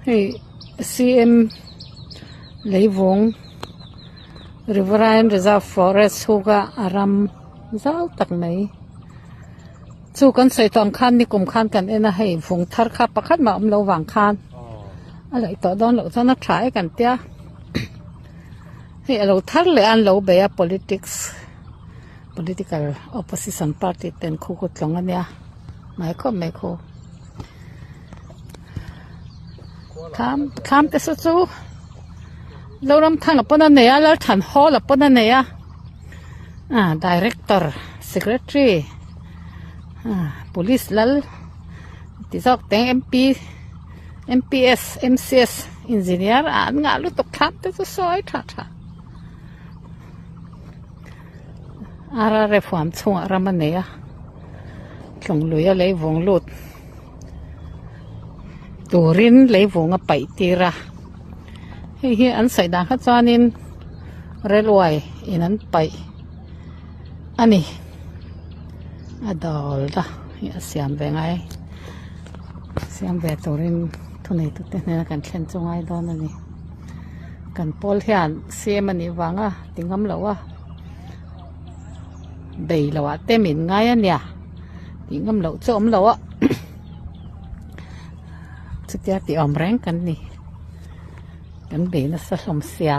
Hei CM Leivung Riverine Reserve Forest huka a ram zau tak mai chu kan sawi tawn khan nikum khan kan en a hei vung thar kha pakhat mah awm lo vang khan a laih tawh dawn loh chuan a tha e kan tia hei a lo thar leh an lo bei a politics political opposition party ten khu ka tlawng ania mai khawp mai khu thlam thlam te chu chu lo ram than a pawn a nei a lal than hawl a pawn a nei a ah director secretary ah police lal ti zawk te ang MP MPS MCS engineer ah an ngah lutuk thlam te chu sawi tha tha. Arare fuam chhungah ram a nei a, tlungluia lei vung lut turin lei vung a paih tir a. Hei hi an saih dan kha chuanin railway in an paih a ni. A dâwl ta hei a siam ve ngai, siam ve turin thuneitute hnena kan thlen chu ngai dawn a ni. Kan pawl hian cm a nih vang a. Ti ngam lo a, bei lo ah te min ngai ania tih ngam loh chu awm loh a chutia tih awm reng kan ni kan be nasa hlawm sia